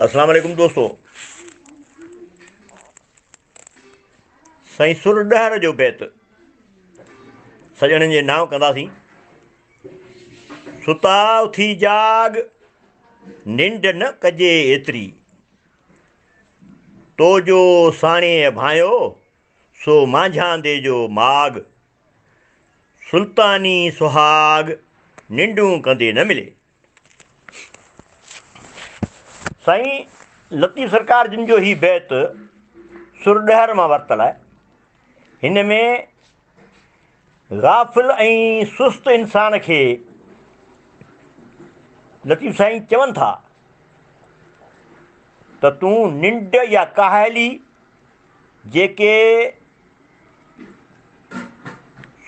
اسلام عليڪم دوستو سائين سر ڏهر جو بيت سڄڻن جي نام ڪنداسين ستا اٿي جاڳ ننڊ نه ڪجي ايتري تو جو ساڻي ڀانيو سو مانجهاندي جو ماڳ سلطاني سهاڳ ننڊون ڪندي نه ملي سائين لطيف سرڪار جن جو هي بيت سر ڏهر مان ورتل آهي هن ۾ غافل ۽ سست انسان کي لطيف سائين چون ٿا ته تون ننڊ يا ڪاهلي جيڪي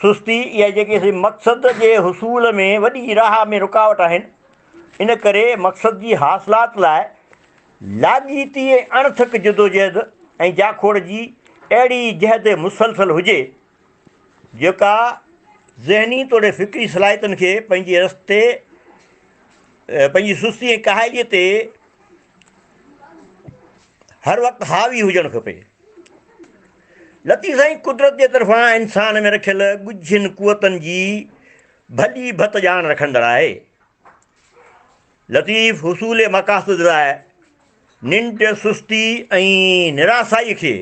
سستي يا جيڪي اسين مقصد جي حصول ۾ وڏي راهه ۾ رڪاوٽ آهن، ان ڪري مقصد جي حاصلات لاء لاڳيتي ۽ اڻٿڪ جدوجهد ۽ جاکوڙ جي اهڙي جهد مسلسل هجي، جيڪا ذهني توڙي فڪري صلاحيتن کي پنهنجي رستي پنهنجي سستي ۽ ڪاهليء تي هر وقت حاوي هجڻ کپي. لطيف سائين قدرت جي طرفان انسان ۾ رکيل ڳجهين قوتن جي ڀلي ڀت ڄاڻ رکندڙ آهي. لطيف حصول مقاصد لاء ننڊ، سستي ۽ نراسائي کي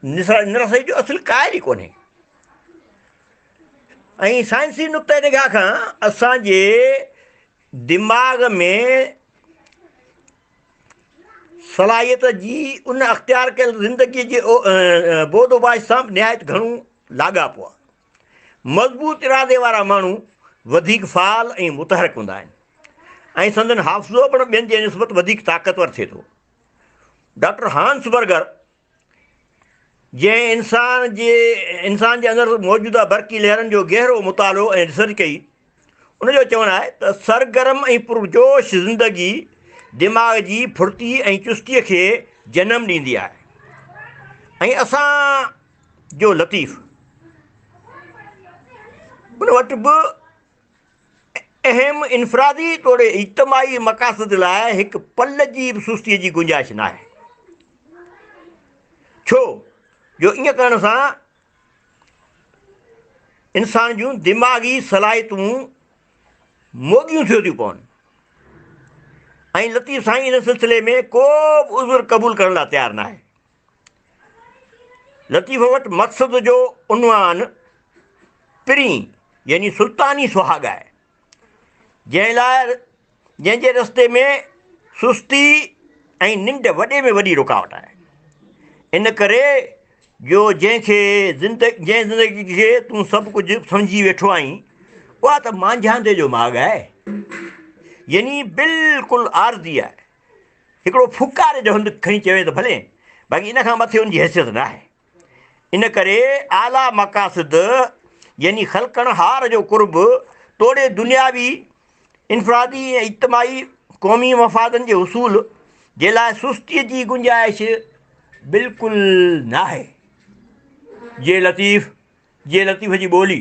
نراسائي جو اصل قائل ئي ڪونهي. ۽ سائنسي نقطه نگاهه کان اسان جي دماغ ۾ صلاحيت جي ان اختيار ڪيل زندگيء جي بود اوباش سان به نهايت گهڻو لاڳاپو آهي. مضبوط ارادي وارا ماڻهو وڌيڪ فعال ۽ متحرڪ هوندا آهن ۽ سندن حافظو پڻ ٻين جي نسبت وڌيڪ طاقتور ٿئي ٿو. ڊاڪٽر هانس برگر جنهن انسان جي انسان جي اندر موجوده برقي لهرن جو گهرو مطالعو ۽ ريسرچ ڪئي، ان جو چوڻ آهي ته سرگرم ۽ پرجوش زندگي دماغ جي ڦڙتي ۽ چستي کي جنم ڏيندي آهي ۽ اسان جو لطيف ان وٽ به اهم انفرادي توڙي اجتماعي مقاصد لاء هڪ پل جي به سستيء جي گنجائش ناهي. ڇو جو ائين ڪرڻ سان انسان جون دماغي صلاحيتون موڳيون ٿيو ٿيون پون ۽ لطيف سائين ان سلسلي ۾ ڪو به عذر قبول ڪرڻ لاء تيار ناهي. لطيفه وٽ مقصد جو عنوان پرين يعني سلطاني سهاڳ آهي، جنهن لاء جنهن جي رستي ۾ سستي ۽ ننڊ وڏي ۾ وڏي رڪاوٽ آهي. ان ڪري جو جنهن کي جنهن زندگي کي تون سڀ ڪجهه سمجهي ويٺو آهين، اها ته مانجهاندي جو ماڳ آهي. يعني بلڪل عارضي آهي. هڪڙو ڦوڪاري جو هنڌ کڻي چوي ته ڀلي، باقي ان کان مٿي ان جي حيثيت نه آهي. ان ڪري اعليٰ مقاصد يعني خلقڻهار جو قرب توڙي دنياوي، انفرادي ۽ اجتماعي قومي مفادن جي حصول جي لاء سستيء جي گنجائش بلڪل ناهي. جي لطيف، جي لطيف جي ٻولي.